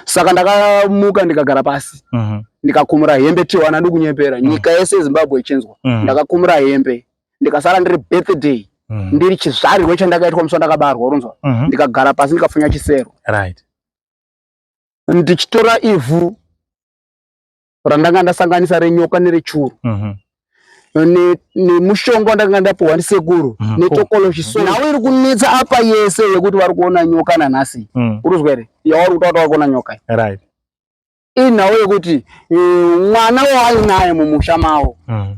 saka ndakamuka ndikagara pasi mhm. ndikakumura hembe tiwana ndikunyepera mhm. nyika yese yezimbabwe ichinzwa mhm. ndakakumura hembe ndikasara ndiri birthday ndiri chizvarirwe chandakaitwa musi wandakabarwa uronzwa ndikagara pasi ndikafunya chisero ndichitora ivhu randanga ndasanganisa renyoka nerechuru mhm. nemushonga wandanga ndapiwa ndisekuru mhm. netokoloshi so nhau iri kunetsa apa yese yekuti vari kuona nyoka nanhasi mm. uruzwa here yavari kuta kuti vari kuona nyoka right inhau yekuti eh, mwana waainaye mumusha mavo mm.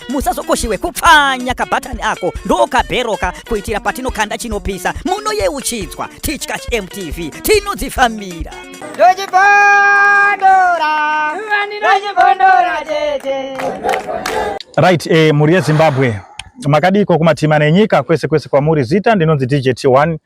musazokoshiwe kupfanya kabhatani ako ndokabheroka kuitira patinokanda chinopisa munoyeuchidzwa titya hmtv tinodzifambira right eh, mhuri yezimbabwe makadiko kumatima nenyika kwese kwese kwamuri zita ndinonzi dj t1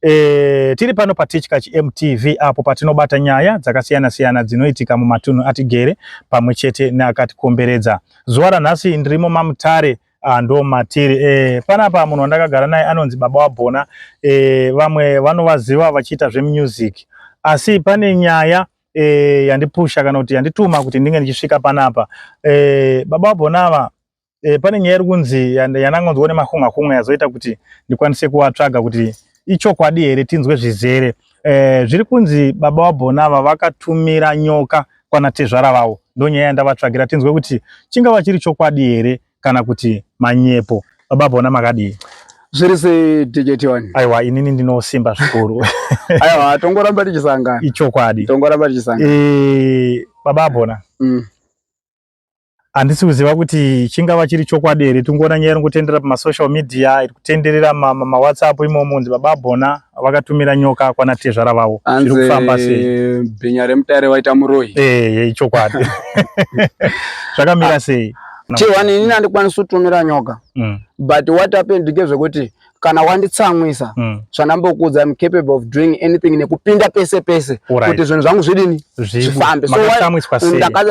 E, tiri pano patichka chmtv apo patinobata nyaya dzakasiyana siyana dzinoitika mumatunhu atigere pamwe chete neakatikomberedza Zuva ranhasi ndirimo mamutare ah, ndo matiri e, panapa munhu wandakagara naye anonzi baba wabhona e, vamwe vanovaziva vachiita zvemusic asi pane nyaya e, yandipusha kana kuti yandituma kuti ndinge ndichisvika panapa e, baba wabhona ava e, pane nyaya iri kunzi yandangonzwa nemakungakunga yazoita kuti ndikwanise kuvatsvaga kuti ichokwadi here tinzwe zvizere Eh, zviri kunzi baba wabhona ava vakatumira nyoka kwana tezvara vavo ndonyaya yandavatsvagira tinzwe kuti chingava chiri chokwadi here kana kuti manyepo baba bhona makadii zviri setiketi wani aiwa inini ndinosimba zvikuru aiwa tongoramba tichisangana ichokwadi tongoramba tichisangana e, baba bhona mm. handisi kuziva kuti chingava chiri chokwadi here tingoona nyaya iri kutendera pamasocial media iri kutenderera mawhatsapp imomo kunzi baba bona vakatumira nyoka kwana tezvara vavo zviri kufamba sei bhinya remutare waita muroyi ee ichokwadi zvakamira sei t1 inini handikwanisi kutumira nyoka mm. but what happened ngezvekuti kana wanditsamwisa mm. zvandambokuudza I'm capable of doing anything nekupinda pese pese right. kuti zvinhu zvangu zvidini zvifambe so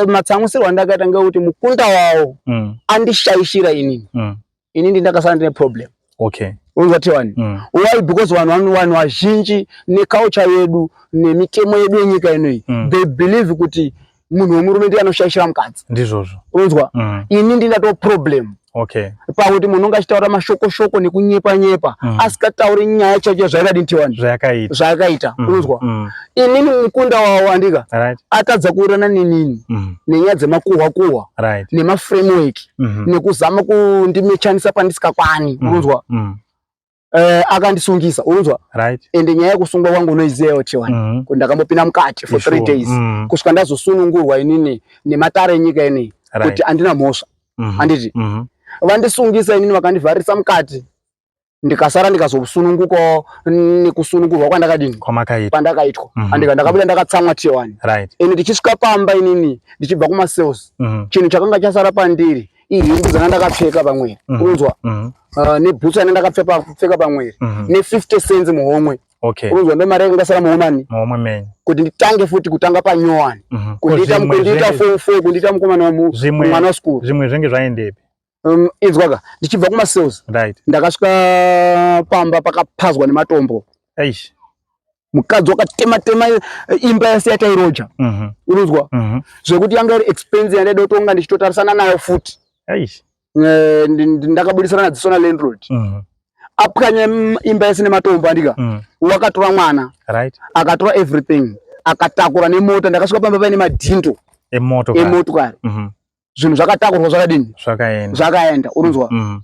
matsamwisirwa ndakaita ngekuti mukunda wawo mm. andishaishira inini mm. inini ndakasara ndine problem okay unzati wani mm. why because vanhu vanhu vazhinji neculture yedu nemitemo yedu yenyika inoyi mm. they believe kuti munhu wemurume ndiye anoshaishira mukadzi ndizvozvo unzwa mm. ini ndinatoo problem okay pamwe kuti munhu unge achitaura mashoko shoko nekunyepa nyepa mm. asikatauri nyaya chacho zvaikadi ntiwani zvayakaita zvayakaita mm. unzwa mm. inini mukunda wawo andika right. atadza kuurana nenini mm. nenyaya dzemakuhwa kuhwa right. nemaframework mm -hmm. nekuzama kundimechanisa pandisikakwani mm. unzwa mm. Eh, akandisungisa unzwa right. and nyaya yekusungwa kwangu unoiziva yote wani mm -hmm. ndakambopinda mukati for three days mm -hmm. kusvika ndazosunungurwa inini nematare enyika inei right. kuti andina mhosva mm -hmm. anditi mm -hmm. vandisungisa inini vakandivharisa mukati ndikasara ndikazosunungukawo nekusunungurwa kwandakadini kwandakaitwa mm -hmm. andika ndakabuda ndakatsamwa tiwani right. and ndichisvika pamba inini ndichibva kumasales mm -hmm. chinhu chakanga chasara pandiri iyi hembe dzanga ndakapfeka pamwiri mhm. unzwa mhm. ah, nebhutsu yanga ndakapfeka pamwiri mhm. ne50 cents muhomwe unzwa ndo mari yake ndasara muhomani kuti nditange futi kutanga panyowani kundiita form four kundiita mukomana wamwana wasikuru zvimwe zvenge zvaendepi um, inzwaka ndichibva kumasales ndakasvika pamba pakapazwa nematombo mukadzi wakatema tema eh, imba yese yatairoja mhm. unonzwa mhm. zvekuti yanga iri expense yandaida kutonga ndichitotarisana nayo futi eh, ndakabudisana nadziso na landlord mhm. apwanya imba yese nematombo andika wakatora mwana akatora everything akatakura nemota ndakasvika pamba paine madhindo emotokari zvinhu zvakatakurwa zvakadini zvakaenda zvakaenda unonzwa mm. mm.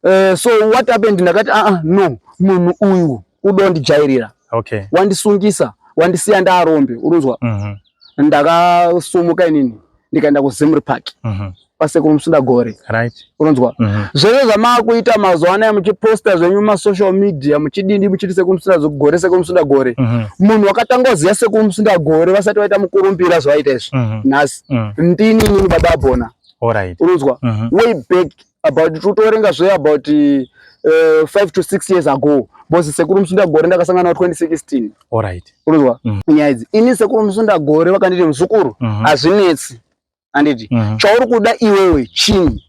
uh, so what happened ndakati aa ah, ah, no munhu uyu kuda wandijairira okay. wandisungisa wandisiya ndaarombe unonzwa mm -hmm. ndakasumuka inini ndikaenda kuzimri park mm -hmm pasekuru musunda gore right unonzwa mm -hmm. zvese zvamaakuita mazuva anaya muchiposta zvenyu masocial media muchidindi muchiti sekuru musunda gore sekuru musunda gore mm -hmm. munhu wakatanga kuziva sekuru musunda gore vasati vaita mukurumbira zvavaita izvi mm -hmm. nhasi mm. ndini inini baba bona alright unonzwa mm -hmm. way back about tutorenga zve about uh, eh, 5 to 6 years ago bosi sekuru musunda gore ndakasangana na 2016 alright unonzwa mm -hmm. nyaya idzi ini sekuru musunda gore vakanditi muzukuru mhm. hazvinetsi mm -hmm. anditi mm -hmm. chauri kuda iwewe chini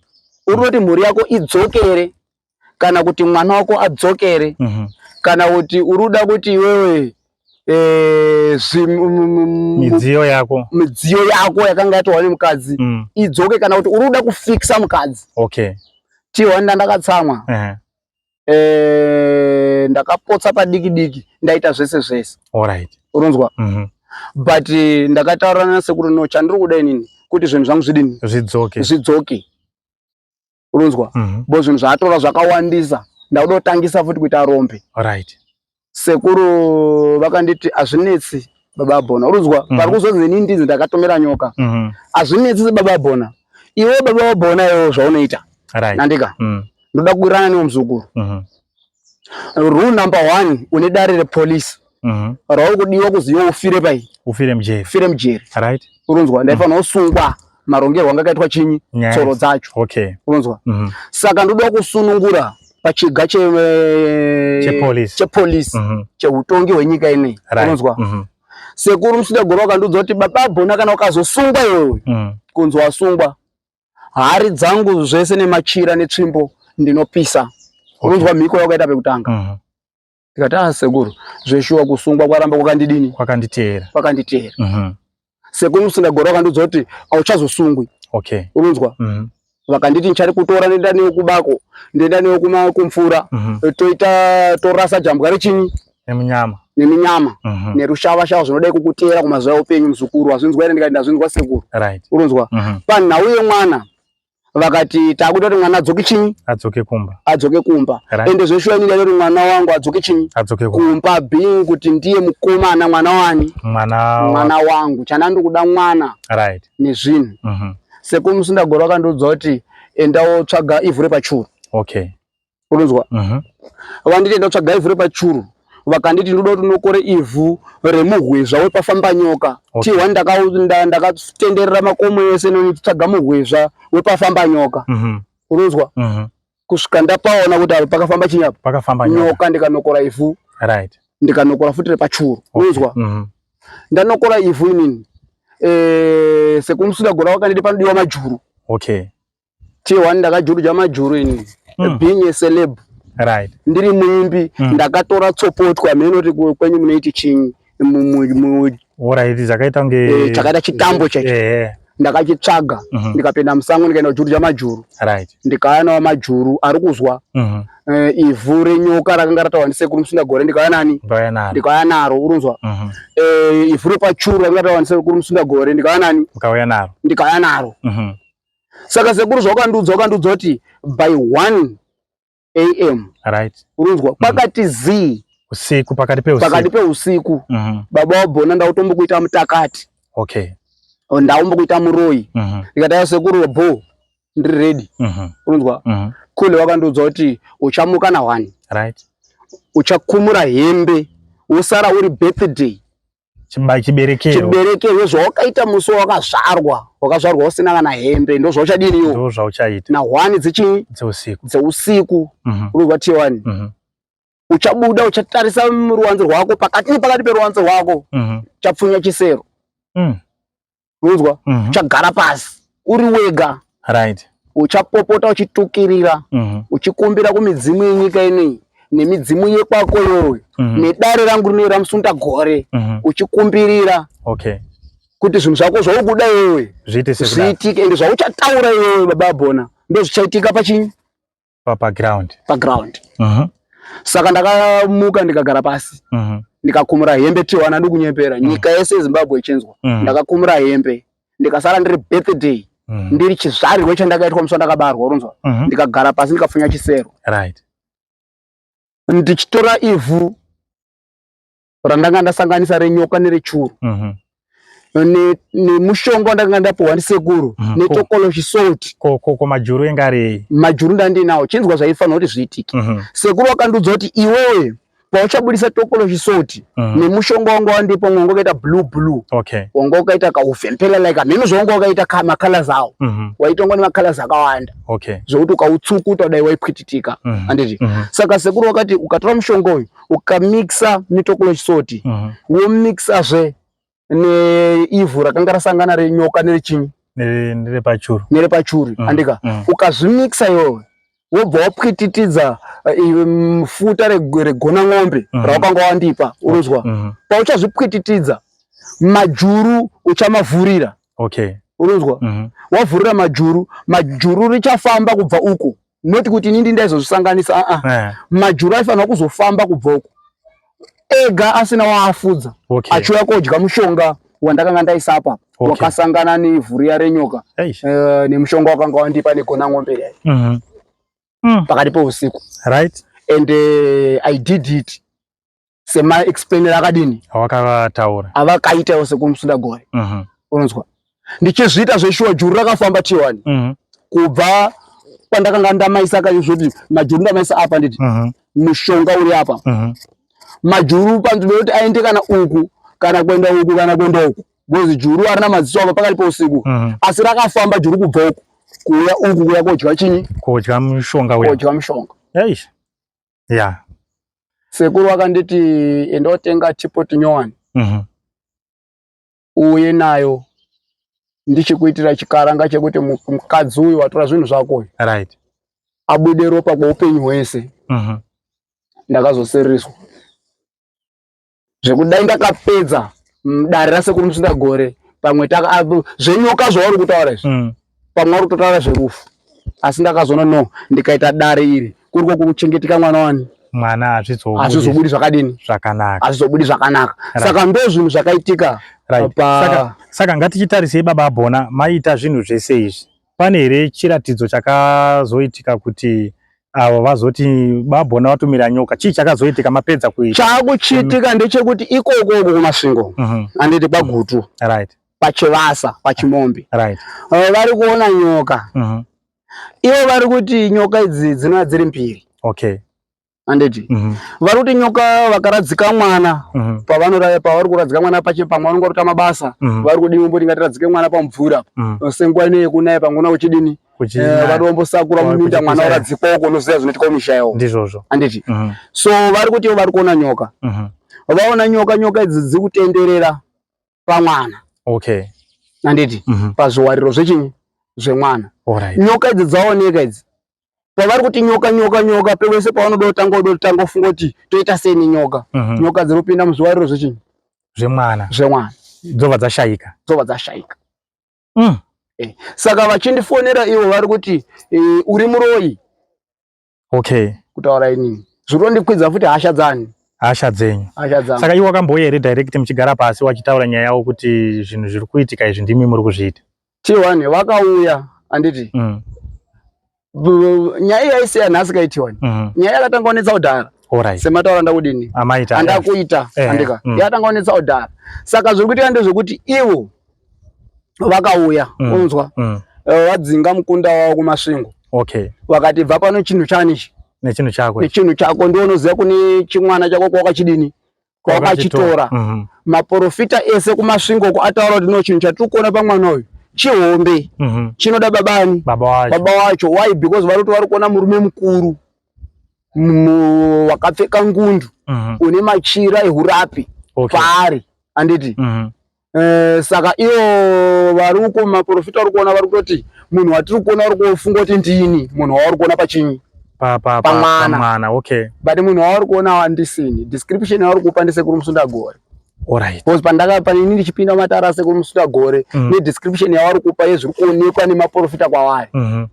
uri kuti mhuri yako idzokere kana kuti mwana wako adzokere mm -hmm. kana kuti uri kuda kuti iwewe eh, midziyo yako midziyo yako yakanga yatohwa nemukadzi mm. idzoke kana kuti uri kuda kufikisa mukadzi okay. tihwanda ndakatsamwa uh -huh. eh, ndakapotsa padiki diki ndaita zvese zvese right. unonzwa mm -hmm. but eh, ndakataurana nasekuru no chandiri kuda inini kuti zvinhu zvangu zvidini zvidzoke zvidzoke unonzwa mhm. bo zvinhu zvaatora zvakawandisa ndakuda kutangisa futi kuita rombe right sekuru vakanditi azvinetsi baba bona uruzwa mm. varikuzonzi ini ndinzi ndakatomera nyoka mm. azvinetsi sebaba bona iwe baba bona iwo zvaunoita right. nandika mm. ndoda kuwirana newe muzukuru mm -hmm. Rule number one une dare repolice mhm. rauri kudiwa kuzi iwe ufire pai ufire mujeri ufire mujeri right uronzwa ndaifanira kusungwa marongerwo anga akaitwa chinyi tsoro dzacho okay uronzwa mhm. saka ndoda kusunungura pachiga che eh, chepolice chepolice mhm. cheutongi hwenyika ineyi uronzwa sekuru musida goro wakandiudza kuti baba bona kana ukazosungwa iwewe kunzi wasungwa hari dzangu zvese nemachira netsvimbo ndinopisa unonzwa mhiko yakaita pekutanga mhm. ndikati a ah, sekuru zveshuwa kusungwa kwaramba kwakandidini kwakanditeera kwakanditeera mhm. sekuru musingagora vakandiudza kuti auchazosungwi okay unonzwa mhm. vakanditi ndichari kutora ndoenda newe kubako ndoenda newe kumvura toita torasa jambwa rechinyi nemunyama neminyama mm -hmm. nerushava shava zvinodai kukuteera kumazuva eupenyu muzukuru wazvinzwa ere ndikati ndazvinzwa sekuru right. urunzwa mm -hmm. panhau yemwana vakati takuda kuti mwana adzoke chinyi adzoke kumba adzoke kumba right. ende zveshuwa ini ndaida kuti mwana wangu adzoke chinyi adzoke kumba being kuti ndiye mukomana mwana wani mwana, mwana wangu chana ndikuda mwana right. nezvinhu mm -hmm. sekuru musindagoro akandiudza kuti enda wotsvaga ivhu repachuru okay unonzwa mhm. vanditi enda kutsvaga ivhu repachuru vakanditi ndoda kuti unokore ivhu remuhwezva wepafambanyoka okay. tihwa ndakatenderera ndaka makomo ese nonitsvaga muhwezva wepafambanyoka mm -hmm. unonzwa mm -hmm. kusvika ndapaona kuti apa pakafamba chinyapa pakafamba nyoka ndikanokora ivhu right. ndikanokora futi repachuru okay. unonzwa mm -hmm. ndanokora ivhu inini e, eh, sekumusina gora wakanditi panodiwa majuru okay. tier one ndakajurudza majuru ini mm. being a celeb right ndiri muimbi mm. ndakatora tsopotwa mhenoti kwenyu munoiti chinyi oraiti zvakaita kunge eh, chakaita chitambo chacho eh, eh. ndakachitsvaga mhm. ndikapinda musango ndikaenda kujurudza majuru ndikauya nawo majuru ari kuzwa mhm. ivhu renyoka rakanga rataura ndisekuru musundagore ndikauya nani ndikauya naro urinzwa mhm. ivhu repachuru rakanga rataura ndisekuru musundagore ndikauya nani ndikauya naro saka sekuru zvaukandiudza wakandiudza kuti by 1 am right unonzwa mm. pakati zii usiku pakati peusiku pakati peusiku mm -hmm. baba wabhona ndautombokuita mutakati okay oh, ndaumbokuita muroyi mm -hmm. ndikataya sekuru bho ndiri ready mm -hmm. unonzwa mm -hmm. kule wakandiudza kuti uchamuka na one right uchakumura hembe wosara uri birthday chiberekerwo chiberekerwo zvawakaita musi wakazvarwa wakazvarwa usina kana hembe ndozvauchadini yo ndozvauchaita na one dzechii dzeusiku dzeusiku mhm. unoziva tiye wani mhm. uchabuda uchatarisa ruwanzi rwako pakati nepakati peruwanzi rwako mhm. chapfunya chisero mm. unonzwa mm -hmm. uchagara pasi uri wega right uchapopota uchitukirira mm -hmm. uchikumbira kumidzimu yenyika inei nemidzimu yekwako yoyo mm -hmm. nedare rangu rinoyo ramusunda gore mm -hmm. uchikumbirira okay kuti zvinhu zvako zvaukuda iwewe zviitike ende zvauchataura iwewe baba bona ndozvichaitika pachinyi pa pa ground pa ground uh -huh. saka ndakamuka ndikagara pasi uh -huh. ndikakumura hembe tiwana ndikunyepera uh -huh. nyika yese yezimbabwe ichinzwa uh -huh. ndakakumura hembe ndikasara ndiri birthday uh -huh. ndiri chizvarirwe chandakaitwa musi wandakabarwa unonzwa uh -huh. ndikagara pasi ndikafunya chisero right ndichitora ivhu randanga ndasanganisa renyoka nerechuru mhm. nemushonga wandanga ndapiwa ndisekuru mhm. netokoloshi salt ko majuru enga rei majuru ndandinawo chinzwa zvaifanira kuti zviitike mhm. sekuru wakandiudza kuti iwewe pauchabudisa tokoloshi salt nemushonga wanga wandipa mwanga wakaita blue blue wanga wakaita kauvhempela like hameno zvawanga wakaita macolors awo waitongwa nemacolors akawanda zvekuti ukautsukuta dai waipwititika anditi saka sekuru wakati ukatora mushonga uyu ukamixa mitoko yechisoti uh -huh. womixazve neivhu rakanga rasangana renyoka nerechinyi nerepachuru nerepachuri mm. andika mm. ukazvimixa iwewe wobva wapwititidza eh, futa regona n'ombe mm. rawakanga wandipa unonzwa mm. mm. pauchazvipwititidza majuru uchamavhurira okay unonzwa mm. wavhurira majuru majuru richafamba kubva uku not kuti inini ndaizozvisanganisa aa ah, ah. eh. majuru aifanira kuzofamba kubva uko ega asina waafudza okay. achiuya kodya mushonga wandakanga ndaisa apa okay. wakasangana nevhu riya renyoka uh, nemushonga wakanga wandipa negona ng'ombe riya mm -hmm. mm. pakati peusiku right and uh, i did it sema explainer akadini awakavataura avakaitawo sekumusuda gore uh mhm. -huh. unonzwa ndichizviita zveshuwa juru rakafamba tiwani uh mhm. -huh. kubva kwandakanga ndamaisa kayo zvoti majuru ndamaisa apa nditi uh mhm. -huh. mushonga uri apa uh -huh. majuru panzvimbo yoti aende kana uku kana kuenda uku kana kuenda uku because juru arina maziso apa pakati pousiku uh -huh. asi rakafamba juru kubva uku kuuya uku kuya kodya chini kodya mushonga kodya mushonga eish yeah. sekuru vakanditi enda otenga chipoti nyowani mm -hmm. uye nayo ndichikuitira chikaranga chekuti mukadzi uyu watora zvinhu zvako uyu right. abude ropa kweupenyu hwese mm -hmm. ndakazoserereswa zvekudai ndakapedza mm, dare rasekuru musinda gore pamwe zvenyoka zvauri kutaura izvi mm. pamwe vari kutotaura zverufu asi ndakazoona no ndikaita dare iri kuri kokuchengeteka mwana wani mwana hazvizobudi zvakadini zvakanaka hazvizobudi zvakanaka saka ndo zvinhu zvakaitika saka ngatichitarisei baba abhona maiita zvinhu zvese izvi pane here chiratidzo chakazoitika kuti avo vazoti babona vatumira nyoka chii chakazoitika mapedza kuita chakuchiitika ndechekuti ikoko uko kumasvingo mhm. anditi kwagutu right pachivasa pachimombe right eh, vari kuona nyoka mhm. ivo vari kuti nyoka idzi dzinova dziri mbiri okay anditi mhm. vari kuti nyoka vakaradzika mwana mhm. pavanoraya pavari kuradzika mwana pache pamwe vanonge varuta mabasa mhm. vari kudini vombo tingati radzike mwana pamvura senguva ine yekunaya pamwe una kuchidini eh, vari vombosakura muminda mwana waradzikwa uko unoziva zvinoitika mumisha yavo ndizvozvo anditi so vari kuti vari kuona nyoka vaona nyoka nyoka idzi dziri kutenderera pamwana okay anditi pazviwariro zvechinyi zvemwana nyoka idzi dzaoneka idzi pavari kuti nyoka nyoka nyoka pevese pavanoda kutanga udo kutanga ufunga kuti toita sei nenyoka mhm. nyoka dziri kupinda muzviwariro zvechinyi zvemwana zvemwana dzova dzashaika dzova dzashaika mm. eh. saka vachindifonera ivo vari kuti eh, uri muroyi okay kutaura inini zvirondikwidza futi hasha dzani hasha dzenyu saka iwe wakamboya here direct muchigara pasi wachitaura nyaya yawo kuti zvinhu zviri kuitika izvi ndimi muri kuzviita T1 vakauya anditi mm. nyaya yaisiya nhasi kai T1 mm. nyaya yakatanga kunetsa kudhara right. semataura ndakudini andakuita eh, andika mm. yakatanga kunetsa kudhara saka zviri kuitika ndezvekuti ivo vakauya mm. unzwa mm. Eh, vadzinga mm. uh, mukunda wavo kumasvingo okay. vakati bva pano chinhu chani ichi nechinhu chako nechinhu chako ndiwo unoziva kune chimwana chako kwawakachidini kwavakachitora mhm. maporofita ese kumasvingo uko ataura kuti no chinhu chatiri kuona pamwana uyu chihombe mhm. chinoda babani baba wacho why because vari kuti vari kuona murume mukuru wakapfeka ngundu mhm. une machira ehurapi paari anditi Eh, saka ivo vari uko maprofita vari kuona vari kutoti munhu watiri kuona uri kufunga kuti ndini munhu wauri kuona pachinyi pamwana okay but munhu wauri kuona wandisini description yauri kupa ndisekuru musundagore Alright. Because pandaka panini ndichipinda matara sekuru musundagore mm. nedescription yavari kupa yezviri kuonekwa nemaprofita kwavari mm -hmm.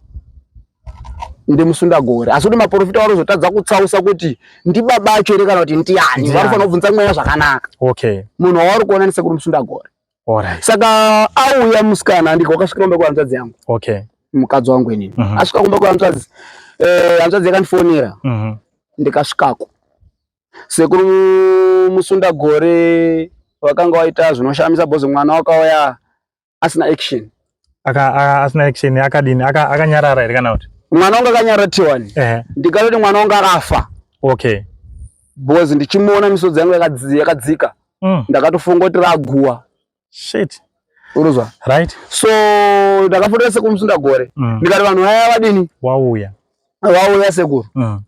ndemusundagore asi kuti maprofita vanozotadza kutsausa kuti ndibaba acho here kana kuti ndiani vanofanira kubvunza mweya zvakanaka okay munhu wavari kuona nesekuru musundagore Alright. saka auya musikana andiko akasvika kumba kwehanzvadzi yangu okay mukadzi wangu inini mm -hmm. asvika kumba kwehanzvadzi eh, hanzvadzi yakandifonera mm -hmm. ndikasvikako sekuru musundagore vakanga waita zvinoshamisa bhozi mwana wakauya asina action aka asina action akadini aka akanyarara here kana kuti mwana wangu akanyarara tiwani ndikatoti mwana wangu akafa okay because ndichimuona misodzi yangu yakadzika mm. ndakatofunga kuti raguwa shit uruzwa right so ndakafotera sekuru musundagore mm. ndikati vanhu vaya vadini wauya wauya sekuru mm.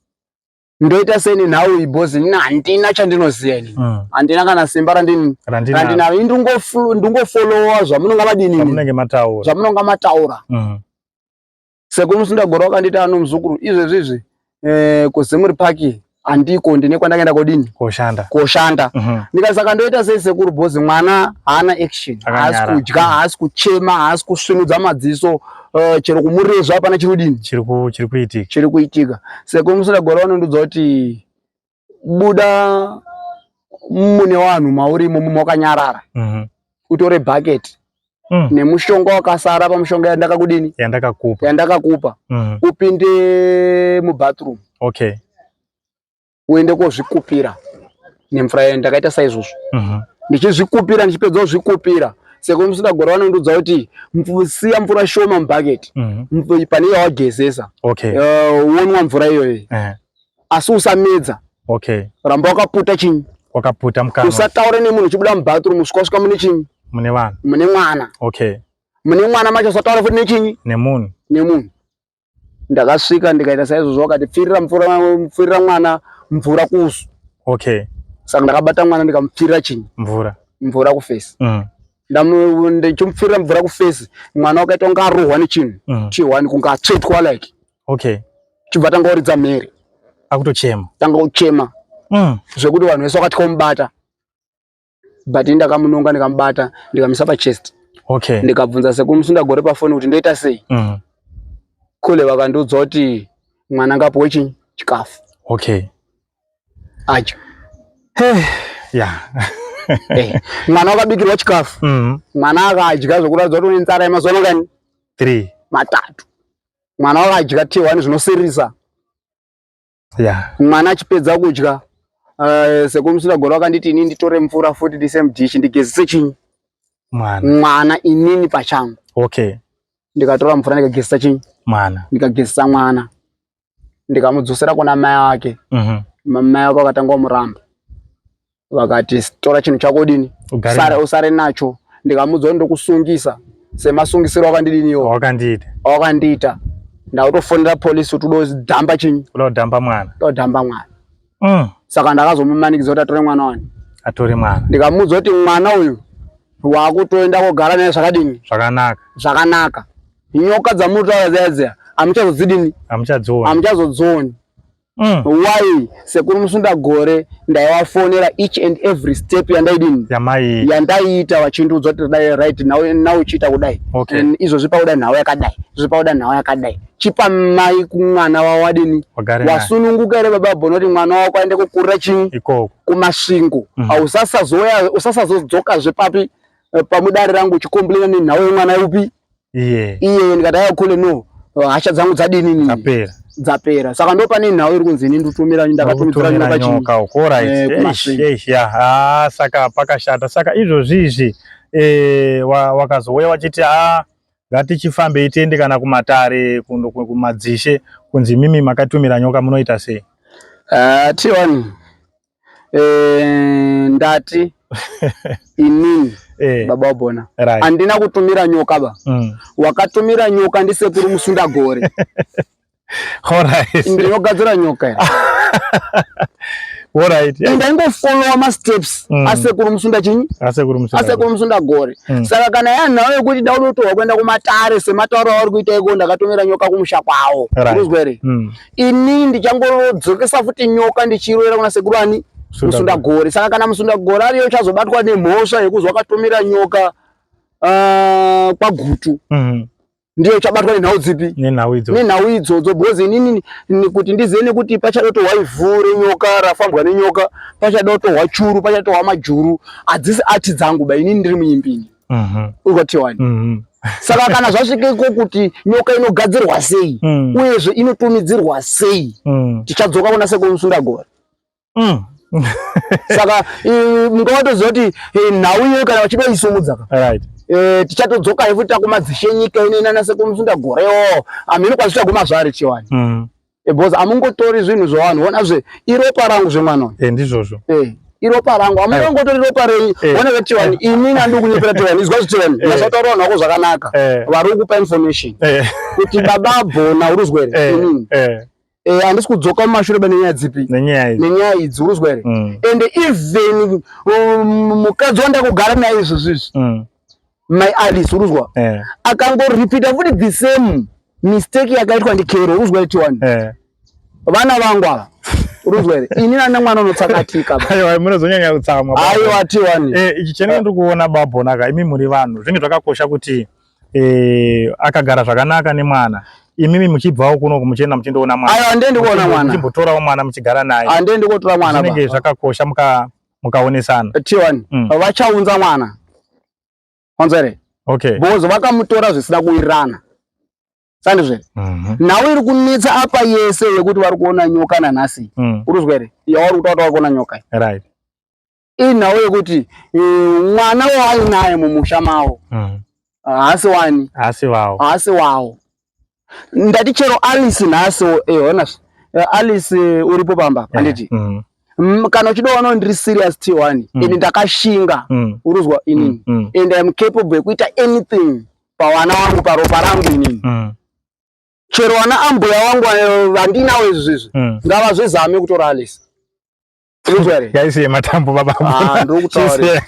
ndoita seni nhau iyi bhozi ini handina chandinoziva ini mm. handina kana simba randini randinaro ini ndingofolowa zvamunonga vadinizvamunenge mataura zvamunonga mataura mm. sekuru musindagora wakandiita ano muzukuru izvezvi izvi eh, kuzimuri paki handiko ndine kwandakaenda kodini koshanda koshanda mhm. ndikasaka ndoita sei sekuru bhozi mwana haana action haasi kudya haasi kuchema haasi kusvinudza madziso Uh, chero kumurezva hapana chiri kudini chiri kuitika chiri kuitika seko musina gore vanondudza kuti buda mune vanhu mauri imomo makanyarara mhm. utore bucket mm. nemushonga wakasara pamushonga yandakakudini yandakakupa yandakakupa mm. upinde mubathroom okay uende kozvikupira nemvura yayo ndakaita saizvozvo mhm. ndichizvikupira ndichipedza kuzvikupira seko musinagora vanondiudza kuti siya mvura shoma mubhaketi mhm. pane yawagezesa eh, wonwa mvura iyoyo eh. asi usamedza ramba wakaputa chinyi wakaputa mukana usataure nemunhu uchibuda mubathroom usvika usvika mune chinyi mune vanhu mune mwana okay mune mwana macho usataure futi nechinyi nemunhu nemunhu ndakasvika ndikaita saizvozvo vakati pfirira mvura pfirira mwana mvura kusu okay saka ndakabata mwana ndikamupfirira chinyi mvura mvura kufesi mm. ndichimupfirira mvura kufesi mwana wakaita kunge arohwa nechinhu mm. chihwani kunge atsvetwa like okay chibva tanga uridza mhere akutochema tanga uchema mm. zvekuti vanhu vese wakati komubata but ndakamunonga ndikamubata ndikamisa pachest okay. ndikabvunza sekuru musunda gore pafoni kuti ndoita sei mm. kule vakandiudza kuti mwana ngapuwe chi chikafu okay. acho hey. yeah. hey. Eh, mwana wakabikirwa chikafu mm. mwana akadya zvekuratidza kuti une nzara yemazuva nongani three matatu mwana wakadya t one zvinosirisa yeah. mwana achipedza kudya uh, eh, sekumusira gore wakanditi inini nditore mvura futi ndise mudhishi ndigezese chinyi mwana mwana inini pachangu okay ndikatora mvura ndikagezesa chinyi mwana ndikagezesa mwana ndikamudzosera kuna mai ake mm -hmm. mai ake wakatanga wamuramba vakati tora chinhu chako dini usare, usare nacho ndikamuudza kuti ndokusungisa semasungisiro wakandidini iwo wakandiita wakandiita ndautofonera polisi kuti udodhamba chinyi udodhamba mwana udodhamba mwana mm. saka ndakazomumanikidza kuti atore mwana wani atore mwana ndikamuudza kuti mwana uyu wakutoenda kogara naye zvakadini zvakanaka zvakanaka nyoka dzamutaura dzaya dziya amuchazodzidini amuchazodzoni Mm. Why sekuru musunda gore ndaivafonera each and every step yandaidini yandaiita vachindiudza kuti dai right now uchiita kudai okay. and izvozvi pauda nhau yakadai izvozvi pauda nhau yakadai chipa mai kumwana wawadini wasununguka here baba bhono kuti mwana wako aende kukurira chii kumasvingo mm -hmm. usasazodzoka zvepapi eh, pamudare rangu uchikomblena nenhau yemwana upi iye iye ndikati ayo kule no hasha dzangu dzadini nini dzapera dzapera saka ndo pane nhau iri kunzi ini ndotumira ndakatumidzira nyoka nyoka ukora ishi ya ha saka pakashata saka izvozvi izvi eh wakazouya wachiti ha ngatichifambe itende kana kumatare kundo kumadzishe kunzi mimi makatumira nyoka munoita sei ah tiwani Eh, ndati inini eh. baba wabona right. andina kutumira nyoka ba mm. wakatumira nyoka ndi sekuru musunda gore right. ndinogadzira nyoka ya Alright. Yeah. Ndaingo follow ma steps mm. asekuru musunda chinyi? Asekuru musunda. Asekuru musunda gore. Mm. Saka kana yanawo yekuti daudotowa kuenda kumatare sematauro auri kuita iko ndakatomera nyoka kumusha kwawo. Right. Uzwere. Mm. ini ndichangodzokesa futi nyoka ndichirovera kuna sekuru ani musundagore saka kana musundagore ariyo uchazobatwa nemhosva yekuzi wakatomera nyoka uh, kwagutu mm -hmm ndiye uchabatwa nenhau dzipi nenhau idzo dzo because inini kuti ndizive nekuti pachadotohwa ivhu renyoka rafambwa nenyoka pachadotohwa churu pachadotohwa majuru hadzisi ati dzangu ba inini ndiri muimbini mhm. ukotiwani mhm. saka kana zvasvika iko kuti nyoka inogadzirwa sei mm. uyezve inotumidzirwa sei mm. tichadzoka kuna sekomusundagore mm. saka munga watoziva kuti eh, nhau iyoyo kana vachitoisumudzaka eh, tichatodzoka yefuti takumadzishe nyika ino inana sekomusundagore o amhino kwazvichaguma zvaari chiwani because amungotori zvinhu zvavanhu vona zve iropa rangu zvemwana uyu eh, ndizvozvo eh, iropa rangu amunongotori ropa renyu eh. vona vetiwani ini nandi kunyepera tiwani izwa zvitiwani mazotaura vanhu vako zvakanaka vari kukupa information kuti baba bhona uri uzwere Eh, handisi kudzoka mumashure ba nenyaya dzipi nenyaya idzi uruzwa here mm. and even um, mukadzi wandakugara naye izvozvizvi mm. mai alice uruzwa eh. akangoripita futi the same mistake yakaitwa ndikero uruzwa iti wani eh. vana vangu ava uruzwa here ini nana mwana unotsakatika aiwa munozonyanya kutsamwa aiwa ti wani eh, ichi chenenge ndiri kuona babhonaka imi muri vanhu zvinge zvakakosha kuti eh, akagara zvakanaka nemwana imimi muchibvawo kuno muchienda muchindoona mwana aiwa ndendikuona mwana muchimbotorawo mwana muchigara naye andendikotora mwana zvinenge zvakakosha muka mukaonesana tiwani mm. vachaunza mwana wanzwa here okay. because vakamutora zvisina kuwirirana sandizve mm -hmm. nhau iri kunetsa apa yese yekuti vari kuona nyoka nanhasi mm. uri kuzwa here yavari kutaura vari kuona nyoka right. inhau yekuti eh, mwana waainaye mumusha mavo mm. haasi wani haasi wawo haasi wawo ndati chero alice nhasi eh, ona eh, alice eh, uripo pamba eh, handiti mm. Mm, kana uchida wano ndiri serious t one mm. and ndakashinga mm. uruzwa inini mm. mm. and iam capable yekuita anything pavana wangu paropa rangu inini mm. chero wana ambuya wangu vandinawo izvi zvizvi mm. ngavazvizame kutora alice Usually. Guys yematambo baba. Ah, ndokutaura.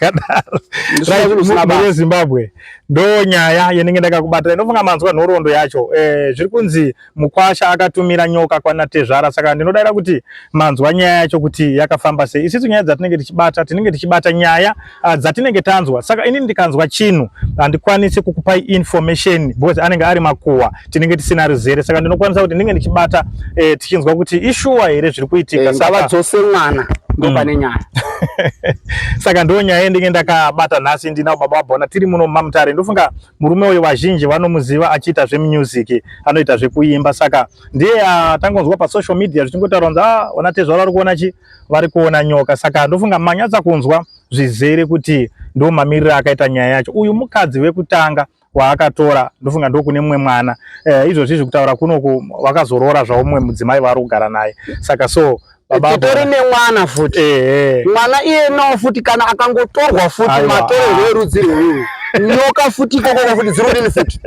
Right, muZimbabwe. Ndo nyaya yenenge ndakakubata. Ndinofunga manzwa nhorondo yacho. Eh, zviri kunzi mukwasha akatumira nyoka kwana tezvara saka ndinodaira kuti manzwa nyaya yacho kuti yakafamba sei. Isisu nyaya dzatinenge tichibata, tinenge tichibata nyaya uh, dzatinenge tanzwa saka ini ndikanzwa chinhu handikwanisi kukupai information because anenge ari makuhwa tinenge tisina ruzere saka ndinokwanisa kuti ndinge ndichibata eh, tichinzwa kuti ishuwa here zviri kuitika eh, saka dzose mwana ndopane mm. nyaya saka ndo nyaya yendinge ndakabata nhasi ndinavo baba vabona tiri muno mumamutare ndofunga murume uyu vazhinji vanomuziva achiita zvemusic anoita zvekuimba saka ndiye atangonzwa pasocial media zvichingotaura kunzi a ah, ona tezvaro ari kuona chi vari kuona nyoka saka ndofunga manyatsa kunzwa zvizere kuti ndo mamiriro akaita nyaya yacho uyu mukadzi wekutanga waakatora ndofunga ndokune mumwe mwana eh, izvozvi zvekutaura kunoku wakazoroora zvawo mumwe mudzimai vaari kugara naye saka so titori nemwana futi eh, mwana iye nawo futi kana akangotorwa futi matorerwe erudzi rweuyu nyoka futi ikokoko futi dzirudini futi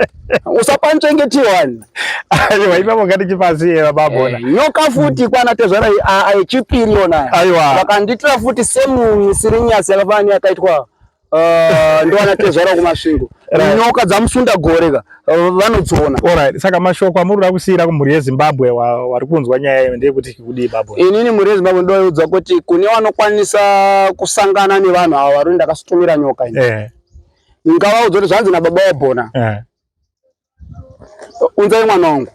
usapanchengeti wani aiwa ipapo ngatichipasi yeva babona eh, nyoka futi kwana tezvara yechipiri yona aiwa vakanditira futi same sirinyasi yakafana yakaitwa eh, ndowana tezvara kumasvingo nyoka dzamusunda gore ka eh, vanodziona alright saka mashoko amuri kuda kusiyira kumhuri yezimbabwe wari kunzwa nyaya iyo ndeyekuti kudii babo inini mhuri yezimbabwe ndoyeudzwa kuti kune vanokwanisa kusangana nevanhu ava vari ndakasitumira nyoka ini ndikavaudza kuti zvanzi nababa wabhona eh. unzai mwana wangu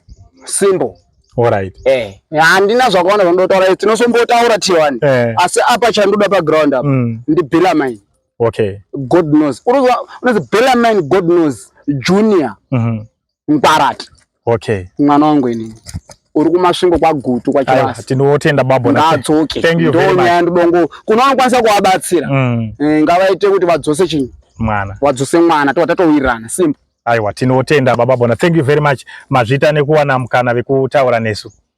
simple Alright. Eh, handina zvakaona zvandotaura izi tinosombotaura tiwani eh. asi apa chandoda paground apa mm. ndi Bellarmine. Okay. God knows. Unonzi Bellarmine God knows junior. Mm -hmm. mukwarati okay mwana wangu ini uri kumasvingo kwagutu kwachivasi tinotenda babo ngaadzoke ndonyaya ndidongo kuno anokwanisa kuvabatsira mm. eh, ngavaite kuti vadzose chinyi mwana wadzose mwana tova tatowirirana simple aiwa tinotenda baba bona thank you very much mazvita nekuwana mukana vekutaura nesu